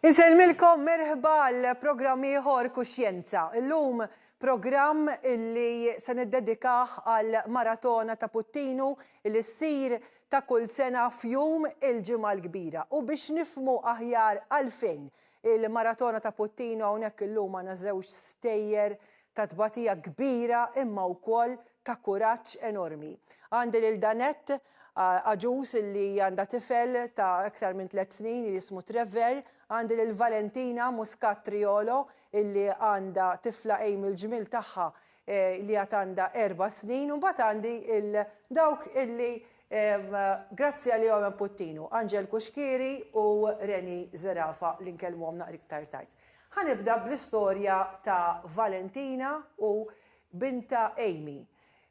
Insellmilkom merħba għal programm ieħor Kuxjenza. Illum programm illi se niddedikah għal maratona ta' Puttinu li ssir ta' kull sena f'jum il-Ġimgħa l-Kbira. U biex nifmu aħjar għalfejn il-maratona ta' Puttinu hawnhekk illum għandna żewġ stejjer ta' tbatija kbira imma wkoll ta' kuraġġ enormi. Għandi lil Danette, għaġuż li għandha tifel ta' iktar minn tliet snin li jismu Trevor, għandi lil Valentina Muscat Triolo li għandha tifla Amy l-ġmiel tagħha li għad għandha erba' snin u mbagħad għandi lil dawk li grazzi għalihom hemm Puttinu, Angel Cuschieri u Rennie Zerafa li nkellmuhom naqra iktar tard. Ħa nibda bl-istorja ta' Valentina u bintha Amy.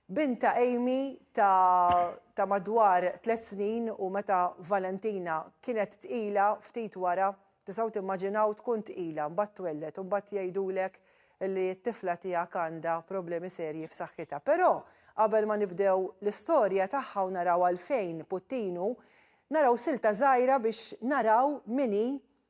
Bintha Amy ta' ta' madwar tliet snin u meta Valentina kienet tqila ftit wara, tistgħu timmaġinaw tkun tqila, mbagħad twelled u mbagħad jgħidulek li t-tifla tiegħek għandha problemi serji f'saħħitha. Però qabel ma nibdew l-istorja tagħha u naraw għalfejn puttinu, naraw silta żgħira biex naraw min hi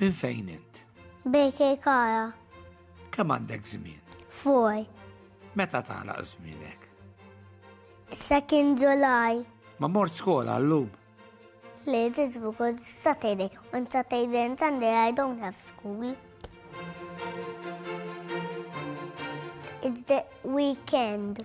Minn fejn int? Bejke kara. Kemm għandek żmien? Fuj. Meta tagħlaq żmienek? Sakin Ġulaj. Ma mort skola llum. Le, it is because Saturday. On Saturday and Sunday I don't have school. It's the weekend.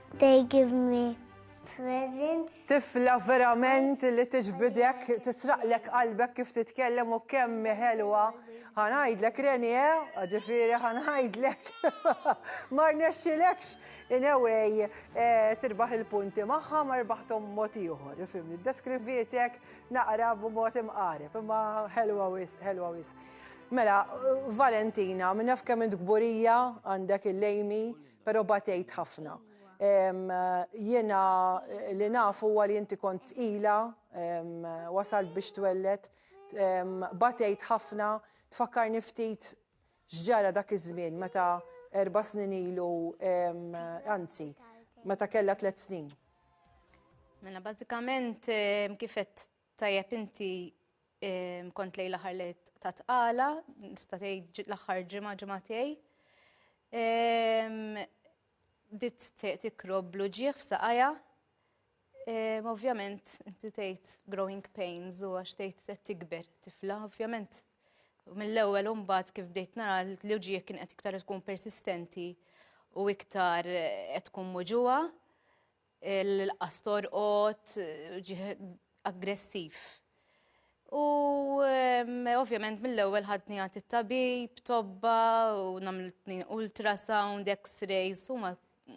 They give me presents. Tifla verament li tiġbidek, tisraqlek qalbek kif titkellem u kemm ħelwa. Ħanajdlek Reni, eh? Ġifieri ħanajdlek. Ma rnexxilekx in a way eh, tirbaħ il-punti magħha ma rbaħthom mod ieħor. Fimni, deskrivietek naqra b'mod imqareb, imma ħelwa wis, ħelwa wis. Mela, Valentina, minnaf kemm int gburija għandek il-lejmi Pero batejt ħafna. Jiena li naf huwa li inti kont tqila, wasalt biex twellet, batejt ħafna, tfakkarni ftit x'ġara dak iż-żmien meta erba' snin ilu, anzi, meta kellha tliet snin. Mela bażikament kif qed Tajjeb inti ehm, kont lej l-aħħar li ta' tqala, nista' tgħid l-aħħar ġimgħa ġimgħa tiegħi. Ehm, dit tikrob blu ġieħ f'saqajja. Ehm, ovvjament, inti tgħid growing pains u għax tgħid se tikber tifla, ovvjament. Mill-ewwel mbagħad kif bdejt nara li ġieħ kien qed iktar tkun persistenti u iktar qed tkun muġuha. Il-qas torqod, ġieħ aggressiv. U ehm, ovvjament mill-ewwel ħadni għad it-tabib, tobba, u namlitni ultrasound, x-rays, u ma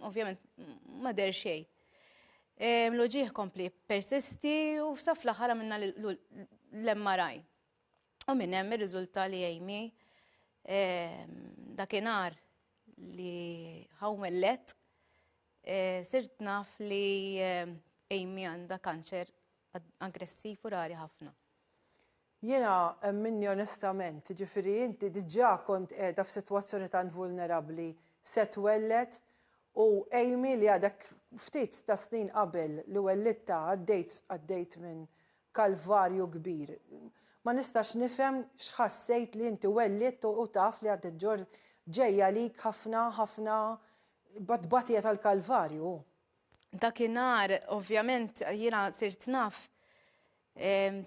ovvjament ma der xej. Ehm, L-uġieħ kompli persisti u saf l-aħħar minna l-MRI. U minn hemm ir-riżulta li Amy ehm, dakinhar li ħawmellet Eh, sirt naf li eh, Amy għandha kanċer aggressiv u rari ħafna. Jiena eh, minni onestament, ġifiri inti diġà kont qiegħda f'sitwazzjoni tant vulnerabbli se twellet u Amy li għadek ftit ta' snin qabel li wellitta għaddejt għaddejt minn kalvarju kbir. Ma nistax nifhem x'ħassejt li inti wellit u taf li għaddejt ġor ġejja lik ħafna ħafna B'tbatija tal-Kalvarju. Dakinhar ovvjament jiena sirt naf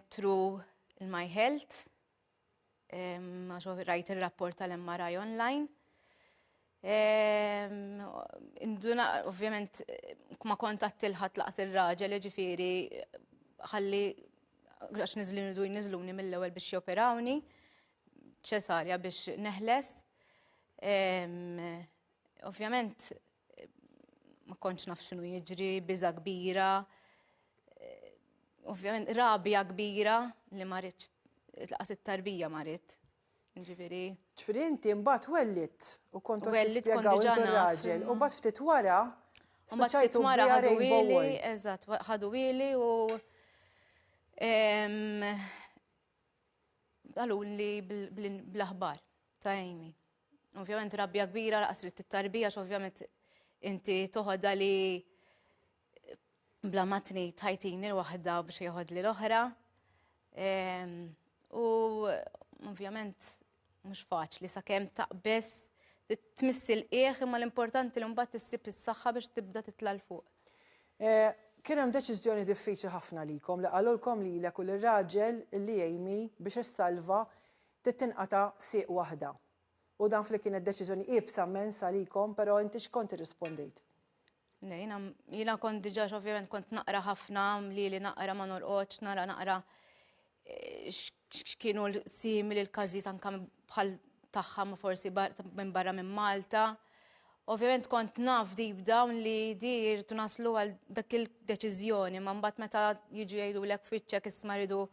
tru l-My Health għax rajt ir-rapport tal-MRI online. Ehm, induna, ovvjament, ma kontat tilħat laqas il-raġel, ġifiri, ħalli, għax nizli nridu nizluni mill-ewel biex joperawni, ċesarja biex neħles. Ehm, Ovvjament ma kontx naf x'inhu jiġri, biża kbira, eh, ovvjament rabja kbira li ma rridx laqas it-tarbija ma rrid. Ġifieri. Ġifieri inti mbagħad wellit u kont wellit kont raġel u mbagħad ftit wara Mbagħad ftit wara ħadu ili, eżatt, ħadu ili u għalun li bl-aħbar ta' Amy. Ovvjament rabbja kbira laqas trid tittarbi għax ovvjament inti toħodha li bla matni tajtini l-waħda biex jieħodli l-oħra. Ehm, u ovvjament mhux faċli sakemm taqbeż tmissil qiegħ imma l-importanti li mbagħad issib is-saħħa biex tibda titla' l fuq. Eh, kien hemm deċiżjoni diffiċli ħafna likom li qalulkom lilek u l-raġel li jgħimi biex issalva Trid tinqata' sieq waħda. U naf li kienet deċiżjoni iebsa mmens għalikom, però inti x'kont irrispondejt? Le, jiena, jiena kont diġà ovvjament kont naqra ħafna, mlieli naqra ma norqodx, nara naqra x'kienu simili l-każijiet anke bħal tagħha ma forsi minn barra minn Malta. Ovvjament kont naf deep down li di jirtu naslu għal dak il-deċiżjoni, ma mbagħad meta jiġu jgħidu lek fiċċek isma' ridu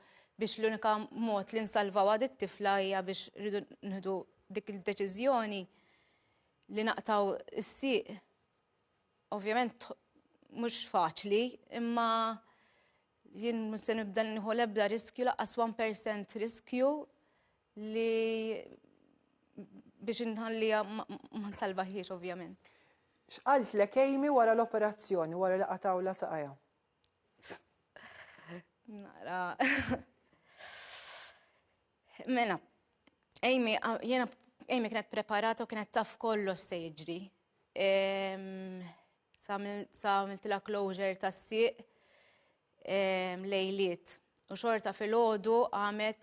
biex l-unika mod li nsalvaw għad it-tifla hija biex ridu nħdu dik il-deċiżjoni li naqtaw is-sieq. Ovvjament mhux faċli, imma jien se nibda nħu l-ebda riskju laqas 1% riskju Li biex inħallija ma nsalvaħiex ovvjament. X'qalt lek Amy wara l-operazzjoni wara li qatawla saqajha? Nara. Mela, Amy, jena Amy kienet preparata u kienet taf kollox se jiġri. Sa għamiltila closure ta' siq lejliet. U xorta fil-ħodu għamet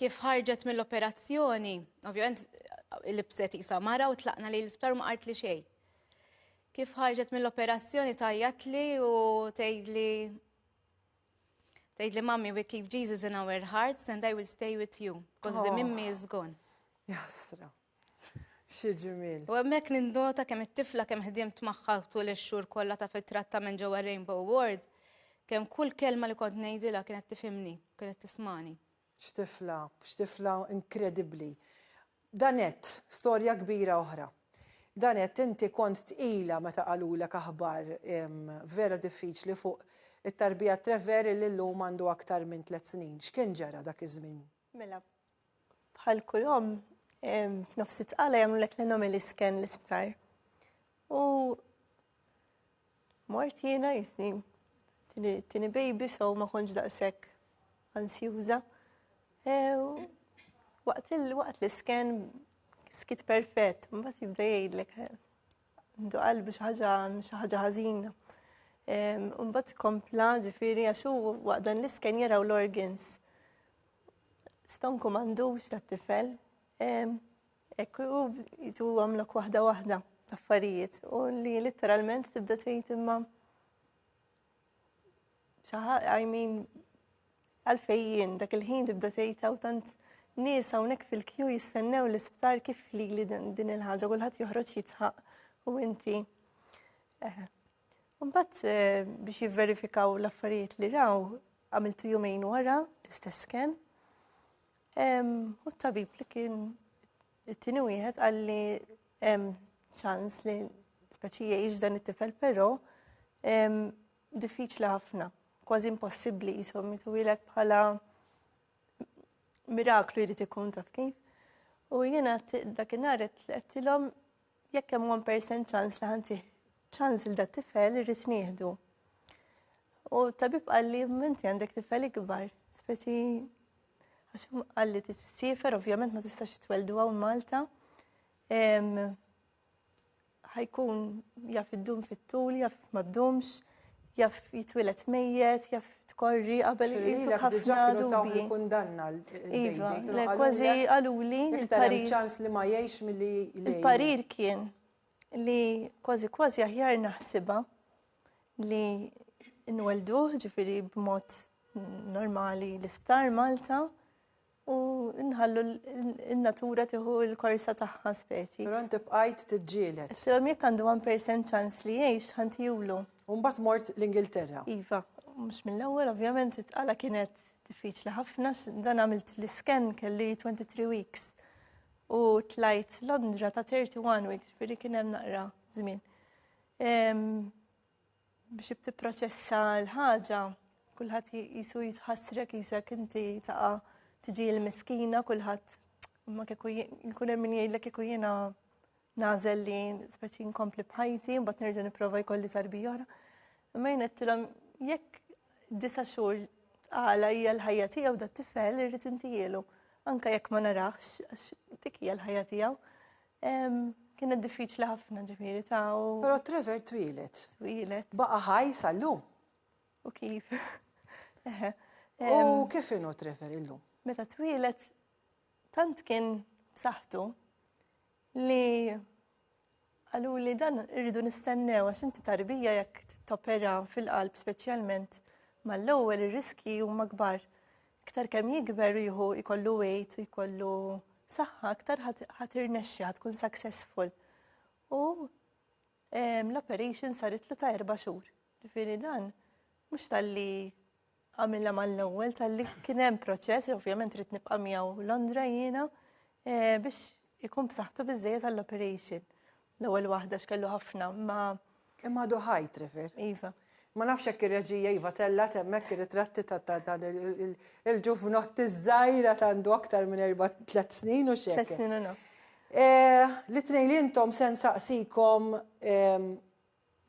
kif ħarġet mill-operazzjoni, ovvjament il-bset jisa mara u tlaqna li l-isptar ma qart li xej. Kif ħarġet mill-operazzjoni tajjat li u tgħid li tgħid li mammi we keep Jesus in our hearts and I will stay with you because the oh. mimmi is gone. Jasra. Xi ġmiel. U hemmhekk nindota kemm it-tifla kemm ħdimt magħha tul ix-xhur kollha ta' fit-trattament ġewwa Rainbow Ward, kemm kull kelma li kont ngħidilha kienet tifhimni, kienet tismani. X'tifla, x'tifla inkredibbli. Danette, storja kbira oħra. Danette, inti kont tqila meta qalulek aħbar vera diffiċli fuq it-tarbija Treveri li llum għandu aktar minn tliet snin. X'kien ġara dak iż-żmien Mela, bħal kull omm, f'nofs it-tqala jagħmlulek l-anomali scan l-isptar. U mort jiena jisni tini baby so ma konġ daqshekk ansjuża. E, waqt l-isken skit perfett, mbagħad jibda jgħidlek Għandu qalbi xi ħaġa xi ħaġa ħażina. Mbagħad kompla ġifieri għax hu waqt dan l-isken jaraw l-organs. Ston kum għandux tat-tifel. Ekku hu jitu għamlok waħda waħda affarijiet u li literalment tibda tgħid imma Saħa, I mean, għalfejjien dak il-ħin tibda tgħidha u tant nies hawnhekk fil-kju jistennew l-isptar kif li li din il-ħaġa kulħadd joħroġ jitħaq u inti. Eh. Mbagħad eh, biex jivverifikaw l-affarijiet li raw għamiltu jumejn wara l-istess sken. U t-tabib li kien It-tieni wieħed qal li hemm ċans li speċi jgħix dan it-tifel però diffiċli ħafna, kważi impossibbli jisom jitwilek bħala miraklu jrid ikun taf kif. U jiena dakinhar qed tilhom Jekk hemm 1% ċans li ħantih ċans il dat tifel irrid nieħdu. U tabib qalli menti għandek tifel ikbar, speċi għax qalli t-sifer, ovvjament ma tistax tweldu għaw Malta. ħajkun jaf id-dum fit-tul, jaf ma d-dumx. jaf jitwilet mejjet, jaf tkorri qabel jitwilet ħafna dubi. kundanna Iva, le kważi għaluli il-parir. ċans li ma jiex mill-li. Il-parir kien li kważi kważi aħjar naħsiba li nwelduħ ġifiri b'mod normali l-isptar Malta U nħallu n-natura tiħu l-korsa tagħha speċi. Però inti bqajt tiġġielet. Tilhom jekk għandu 1% ċans li jgħix ħantijulu. U mbagħad mort l-Ingilterra. Iva, mhux mill-ewwel ovvjament it-tqala kienet diffiċli ħafna dan għamilt l-isken kelli 23 weeks u tlajt Londra ta' 31 weeks, firri kien hemm naqra żmien. biex tipproċessa l-ħaġa, kulħadd jisu jitħassrek jisek inti taqa' tiġi l-miskina kulħadd ma kieku jkun hemm min jgħidlek kieku jiena nażel li speċi nkompli bħajti u mbagħad nerġa' nipprova jkolli tarbija oħra. Imma jien qedtilhom jekk disa' xhur tqala hija l-ħajja tiegħu dat tifel irrid intijielu. Anka jekk ma narax, għax dik hija l-ħajja tiegħu. Kienet diffiċli ħafna ġifiri ta' u. Pero Trevor twilet. Twilet. Baqa ħaj sallu. U kif? U kif inu Trevor illum? Meta twilet, tant kien b'saħħtu li għalu li dan irridu nistennew għax inti tarbija jekk topera fil-qalb speċjalment mal-ewwel ir-riski huma kbar Iktar kemm jikber jieħu jkollu weight u jkollu saħħa, iktar ħadd irnexxi ħadd tkun successful. U ehm, l-operation saritlu ta' erba' xhur. Ġifieri dan mhux tal-li għamilla mal-ewwel tal-li kien hemm proċess, ovvjament rrit nibqa' miegħu Londra jiena eh, biex ikun b'saħħtu biżejjed għall-operation. L-ewwel waħda x'kellu ħafna ma. Imma għadu ħaj Trevor. Iva. Ma nafx hekk ir-reġija iva tella temmek ir-ritratti ta' dan il-ġuvnotti żgħira ta' għandu aktar minn erba' tliet snin u xejn. Tliet snin u nofs. Eh, li tnejn li intom se nsaqsikom ehm,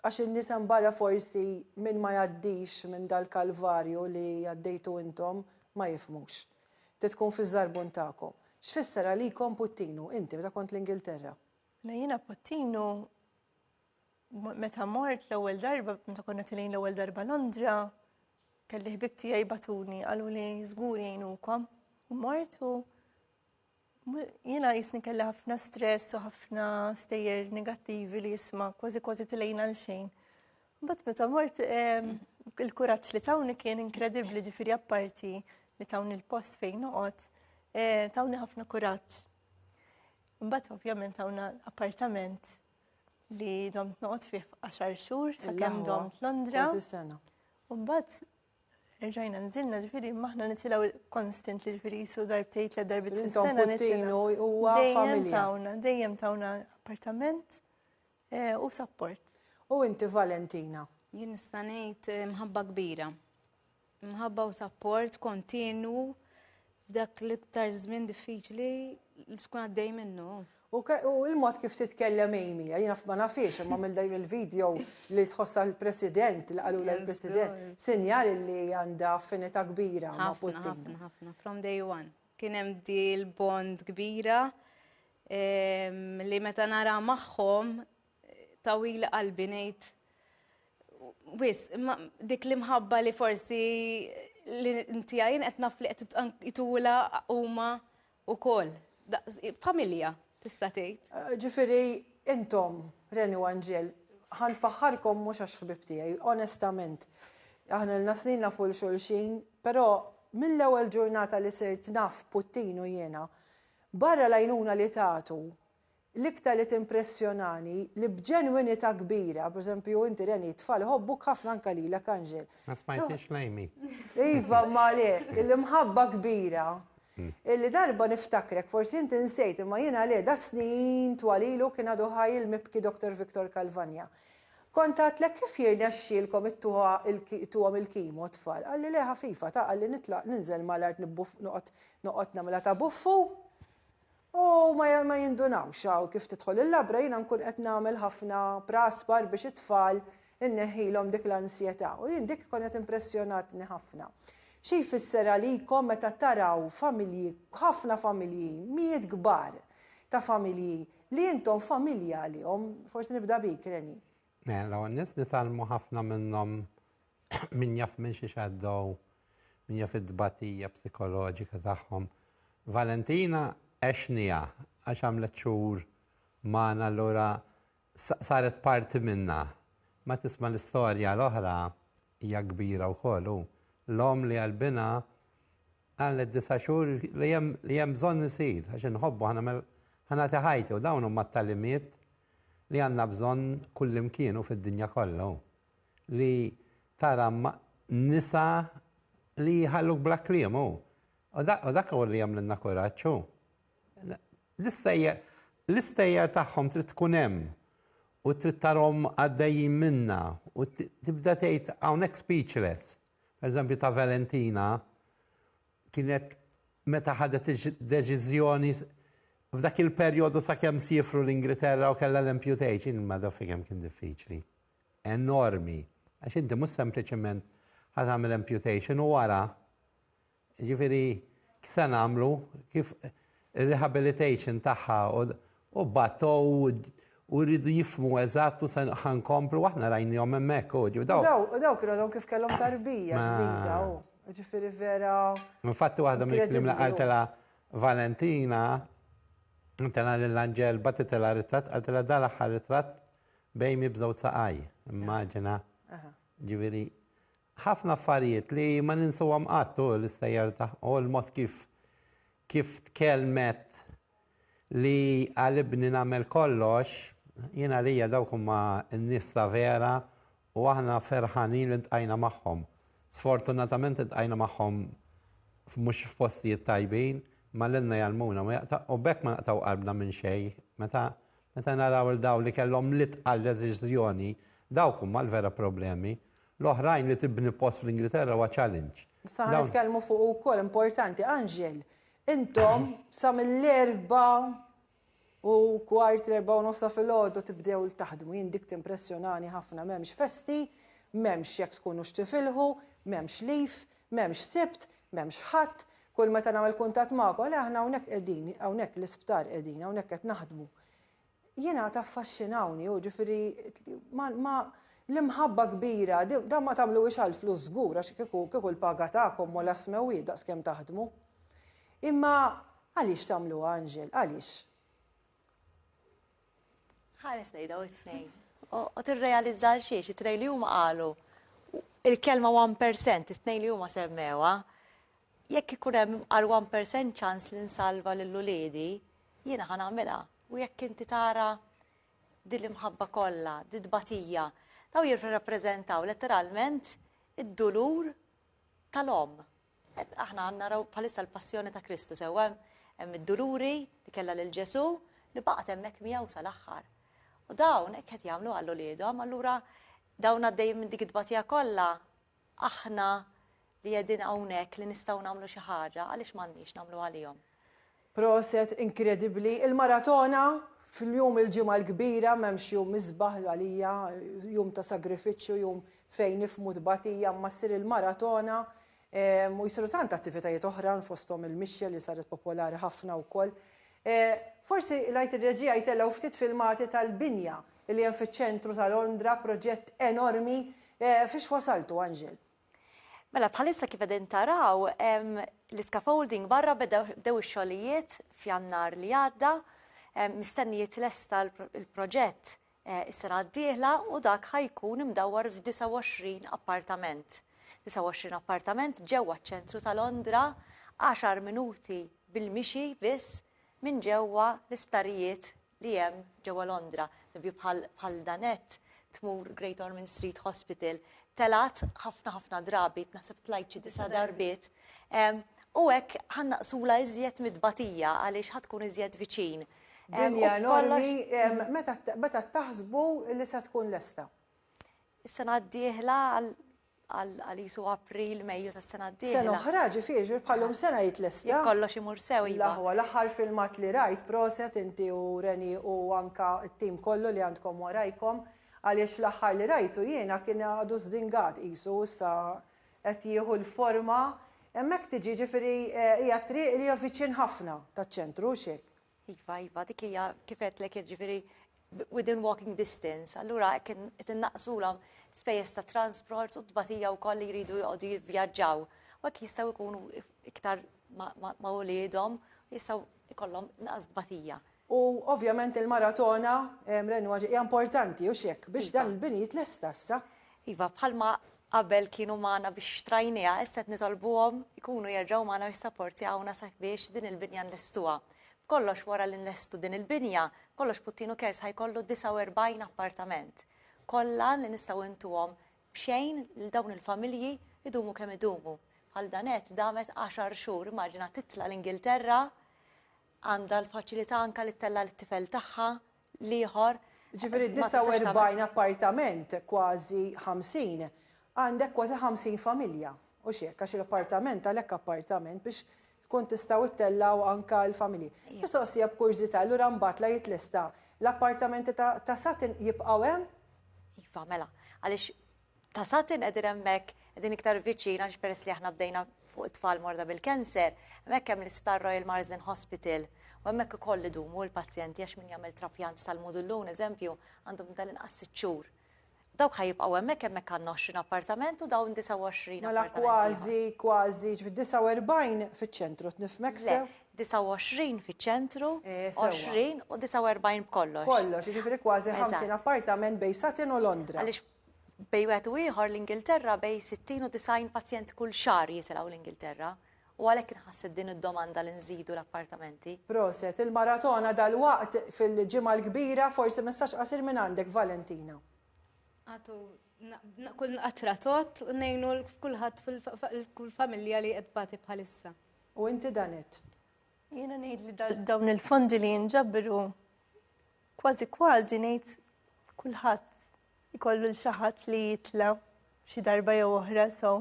għax in-nies hemm barra forsi minn ma jgħaddix minn dal-kalvarju li għaddejtu intom ma jifmux. Titkun fiż-żarbun tagħkom. X'fisser għalikom puttinu, inti meta kont l-Ingilterra? Jiena Pottinu meta mort l-ewwel darba, meta konna tilin l-ewwel darba Londra, kelli ħbib tiegħi batuni qalu li żgur jgħinukom. U mortu jiena jisni kelli ħafna stress u ħafna stejjer negattivi li jisma kważi kważi tilejna l xejn. Bat meta mort il-kuraġġ li tawni kien inkredibbli ġifieri apparti li tawni l-post fejn noqgħod, eh, tawni ħafna kuraġġ. Mbagħad ovvjament hawn appartament li dom noqgħod fih għaxar xhur sakemm dom Londra. U mbagħad Erġajna nżilna ġifiri maħna nitilaw konstant li ġifiri jisu darbtej tlet darbit fis sena nitilaw. Dejjem tawna, dejjem tawna appartament eh, u support. U inti Valentina? Jien nista' ngħid eh, mħabba kbira. Mħabba u sapport kontinwu f'dak l-iktar żmien diffiċli li tkun għaddej minnu. U il-mod kif titkellem Amy, jina ma nafiex, ma mill dajn il-video li tħossa l-president, li għalu l-president, sinjal li għanda affinita kbira ma' Putin. Ħafna, ħafna, from day one. Kienem di l-bond kbira li meta nara maħħom Tawwili qalbi ngħid wis, imma dik l-imħabba li forsi li inti għajn qed naf li qed jitula huma wkoll. Familja, tista' tgħid. Eh, ġifieri intom, Reni u Anġel, ħan faħħarkom mhux għax ħbib tiegħi, onestament. Aħna l-nasnin nafu l-xulxin, però mill-ewwel ġurnata li sirt naf Puttinu jiena, barra lajnuna li tagħtu, L-iktar li timpressjonani, li b'ġenwinità kbira, pereżempju, inti Reni, it-tfal iħobbuk ħafna anke lilek Anġel. Ma smajtix l-Amy. Iva, ma le, l-imħabba kbira. Illi darba niftakrek, forsi inti nsejt, imma jiena le, da snin twal ilu kien għadu ħaj il-mibki Doktor Victor Calvagna. Kont għadtlek kif jirnexxielkom ittuha ittuhom il-kimo t-tfal. Qalli le ħafifa, ta' qalli nitlaq ninżel mal-art nibbuff noqgħod noqgħod nagħmilha ta' buffu. U ma jindunawx hawn kif tidħol il-labra jiena nkun qed nagħmel ħafna praspar biex it-tfal inneħħilhom dik l-ansjetà u jien dik konet impressjonatni ħafna. Xi jfisser għalikom meta taraw familji, ħafna familji, mijiet kbar ta' familji li intom familja għalihom, forsi nibda bik Renée, Mela, l-ewwel nies nitgħallmu ħafna minnhom min jaf minn xi xaddow, min jaf it-tbatija psikoloġika tagħhom. Valentina għexnija għax għamlet xhur magħna allura saret parti minna. Ma tisma' l-istorja l-oħra hija kbira wkoll hu. L-om li għalbina għallet disa' xhur li hemm bżonn isir għax inħobbu ħanagħmel ħanati ħajti u dawn huma t-talimiet li għandna bżonn kullimkien u fid-dinja kollha hu li tara nisa li jħalluk bla kliem hu. U dak hu li jagħmlilna kuraġġ hu. L-istejjer tagħhom trid tkun hemm u trid tarhom għaddejjin minna u tibda tgħid hawnhekk speechless. Per eżempju ta' Valentina kienet meta ħadet id-deċiżjoni f'dak il-perjodu sakemm siefru l-Ingilterra u kellha l-amputation, ma daf kemm kien diffiċli. Enormi. Għax inti mhux sempliċement ħad għamil amputation u wara. Ġifieri se nagħmlu kif rehabilitation tagħha U batgħu u jridu jifhmu eżatt u se ħa nkomplu, aħna rajnihom hemmhekk u ġew. U dawk kienu għadhom kif kellhom tarbija ġdida u ġifieri vera. Infatti waħda mill-kliem li qaltilha Valentina, qaltilha lil Anġel, bagħtitilha ritratt, qaltilha dan l-aħħar ritratt b'Amy b'żewġ saqajh. Immaġina. Ġifieri Ħafna affarijiet li ma ninsuhom qatt hu l-istejjer ta' u l-mod kif kif tkellmet li għal ibni nagħmel kollox, jien għalija dawk huma n-nies ta' vera u aħna ferħanin li ltqajna magħhom. Sfortunatament iltqajna magħhom mhux f'postijiet tajbin, imma lilna jgħallmuna ma jaqta' u b'hekk ma naqtgħu qalbna minn xejn. Meta meta naraw 'l dawn li kellhom l-itqal deċiżjoni, dawk huma l-vera problemi. L-oħrajn li tibni post fl-Ingilterra huwa challenge. Sa ħa nitkellmu fuq ukoll importanti, Anġel, intom sa mill-erba u kwart l-erba u nofsa fil-ħodu tibdew l-taħdmu, jien dik timpressjonani ħafna m'hemmx festi, m'hemmx jekk tkunu x'tifilħu, m'hemmx lif, m'hemmx sibt, m'hemmx ħadd, kull meta nagħmel kuntatt magħkom, le aħna hawnhekk qegħdin, hawnhekk l-isptar qegħdin, hawnhekk qed naħdmu. Jien għad affaxxinawni, hu ġifieri ma, ma, l-imħabba kbira, dan ma tagħmluhiex għall-flus żgur għax kieku, kieku l-paga tagħkom mholha s-smewwiet daqskemm taħdmu. Imma għaliex tagħmluha, Anġel, għaliex? Ħares lejn dawn it-tnejn. Qod irrealizza għal xiex, it-tnejn li huma qalu il-kelma 1% it-tnejn li huma semmewa, jekk ikun hemm għal 1% ċans li nsalva lil uliedi, jiena ħa nagħmilha. U jekk inti tara din l-imħabba kollha, din tbatija, daw jirrappreżentaw letteralment id-dulur tal-omm. Aħna għandna raw bħalissa l-passjoni ta' Kristu sewwa hemm id-duluri li kellha lil Ġesu li baqgħet hemmhekk miegħu sal-aħħar. U dawn hekk qed jagħmlu għal uliedhom, allura dawn għaddejjin minn dik id-dbatija kollha Aħna li qegħdin hawnhekk li nistgħu nagħmlu xi ħaġa għaliex m'għandniex nagħmlu għalihom? Proset inkredibbli il maratona fljum il ġimgħa l kbira m'hemmx jum isbaħ għalija jum ta sagrifiċċju jum fejn nifhmu tbatija imma ssir il maratona u jsiru tant attivitajiet oħran fosthom il mixja li saret popolari ħafna wkoll Forsi ngħid ir-reġija jtellgħu ftit filmati tal-binja li hemm fiċ-ċentru ta' Londra proġett enormi Fiex wasaltu, Anġel? Mela, bħalissa kif qegħdin taraw, l-iscaffolding barra bdew ix-xogħlijiet f'Jannar li għadda, mistenni jitlesta l-proġett is-sena d-dieħla u dak ħa jkun imdawwar f'29 appartament. 29 appartament ġewwa ċ-ċentru ta' Londra, għaxar minuti bil-mixi biss minn ġewwa l-isptarijiet li hemm ġewwa Londra, eżempju bħal bħal Danette tmur Great Ormond Street Hospital, telgħat ħafna ħafna drabi, naħseb tlajt xi disa' darbiet, u hekk ħannaqsula iżjed mit-tbatija għaliex ħa tkun iżjed viċin. Dinja enormi, meta taħsbu li se tkun lesta? Is-sena d-dieħla għal qisu April, Mejju tas-sena d-dieħla. Sena oħra, ġifieri, bħalhom sena jitlesta. Jekk kollox imur sew, iva. L-aħwa, l-aħħar filmat li rajt, proset inti u Reni u anke t-tim kollu li għandkom warajkom, għaliex l-aħħar li rajtu jiena kien għadu żdingat qisu, issa qed jieħu l-forma, hemmhekk tiġi, ġifieri hija triq li hija viċin ħafna taċ-ċentru, hux hekk? Iva, iva, dik hija kif għedtlek jiġifieri within walking distance, allura kien qed innaqsulhom spejjeż ta' transport u tbatija wkoll li jridu joqogħdu jivvjaġġaw. U hekk jistgħu jkunu iktar ma' uliedhom, jistgħu jkollhom naqas tbatija. U ovvjament il-maratona Renwa hija importanti u x'hekk biex dan il-bini jitlesta issa. Iva, bħalma qabel kienu magħna biex xtrajnieha, issa qed nitolbuhom ikunu jerġgħu magħna u jissaportjawna sabiex din il-binja nlestuha. B'kollox wara li nlestu din il-binja, kollox Puttinu Cares ħa jkollu 49 appartament. Kollha li nistgħu intuhom b'xejn lil dawn il-familji jdumu kemm idumu. Bħal Danette damet għaxar xhur, immaġina titla' l-Ingilterra, għandha l-faċilità anke li ttella' lit-tifel tagħha l-ieħor Ġifieri ma tistax tagħmel- 49 appartament, kważi 50, għandek kważi 50 familja, hux hekk? Għax l-appartament għalhekk appartament biex tkun tistgħu ttellgħu anke l-familji. Mistoqsija b'kurżità, allura mbagħad la jitlesta l-appartamenti ta' ta' Sutton jibqgħu hemm? Iva, mela, għaliex ta' satin qegħdin hemmhekk qegħdin iktar viċin għaliex peress li aħna bdejna fuq it-tfal morda bil-cancer, hemmhekk hemm l-Isptar Royal Marsden Hospital u hemmhekk ukoll idumu l-pazjenti għax min jagħmel trapjant tal-mudullun eżempju għandu minn tal-inqas sitt xhur. Dawk ħa jibqgħu hemmhekk hemmhekk għandna 20 appartament u dawn 29 appartament. Mela kważi kważi ġifieri 49 fiċ-ċentru qed nifhmek sew? Le, 29 fiċ-ċentru, 20 u 49 b'kollox. Kollox, jiġifieri kważi 50 appartament bejn Satin u Londra. Għaliex Bejn wieħed u ieħor l-Ingilterra bejn 60 u 90 pazjent kull xahar jitilgħu l-Ingilterra u għalhekk inħasset din id-domanda li nżidu l-appartamenti. Proset il-maratona dalwaqt fil-Ġimgħa l-Kbira, forsi messaġġ qasir minn għandek Valentina. Agħtu kull qatra tgħodd u ngħinu kulħadd kull familja li qed tbati bħalissa. U inti Danett? Jiena ngħid li dawn il-fondi li jinġabru Kważi kważi ngħid kulħadd ikollu l xaħat li jitla xi darba jew oħra so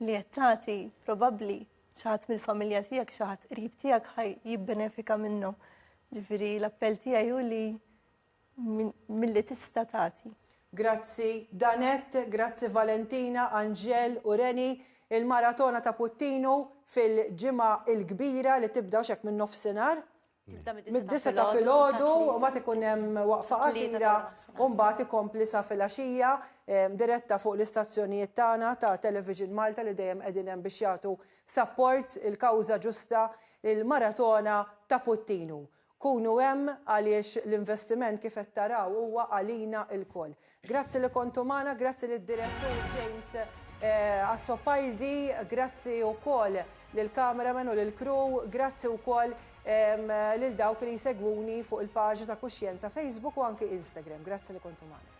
li qed tagħti probabbli xaħat mill-familja tiegħek, xaħat qrib tiegħek ħaj jibbenefika minnu. Ġifieri l-appell tiegħi hu li milli tista' tagħti. Grazzi Danet, grazzi Valentina, Anġel u Reni, il-maratona ta' Puttinu fil-ġimgħa il-kbira li tibda xek minn nofsinhar. Tibda mid-disa ta' filgħodu u ma ikun hemm waqfa qasira u mbagħad ikompli sa filgħaxija ehm, diretta fuq l-istazzjonijiet tagħna ta' Television Malta li dejjem qegħdin hemm biex jagħtu sapport il-kawża ġusta il-maratona ta' Puttinu. Kunu hemm għaliex l-investiment kif qed taraw huwa għalina lkoll. Grazzi li kontu magħna, grazzi lid-Direttur James Azzopardi, grazzi wkoll lill-cameraman u lill-crew, grazzi wkoll lil dawk li jsegwuni fuq il-paġna ta' Kuxjenza Facebook u anki Instagram. Grazzi li kontu magħna.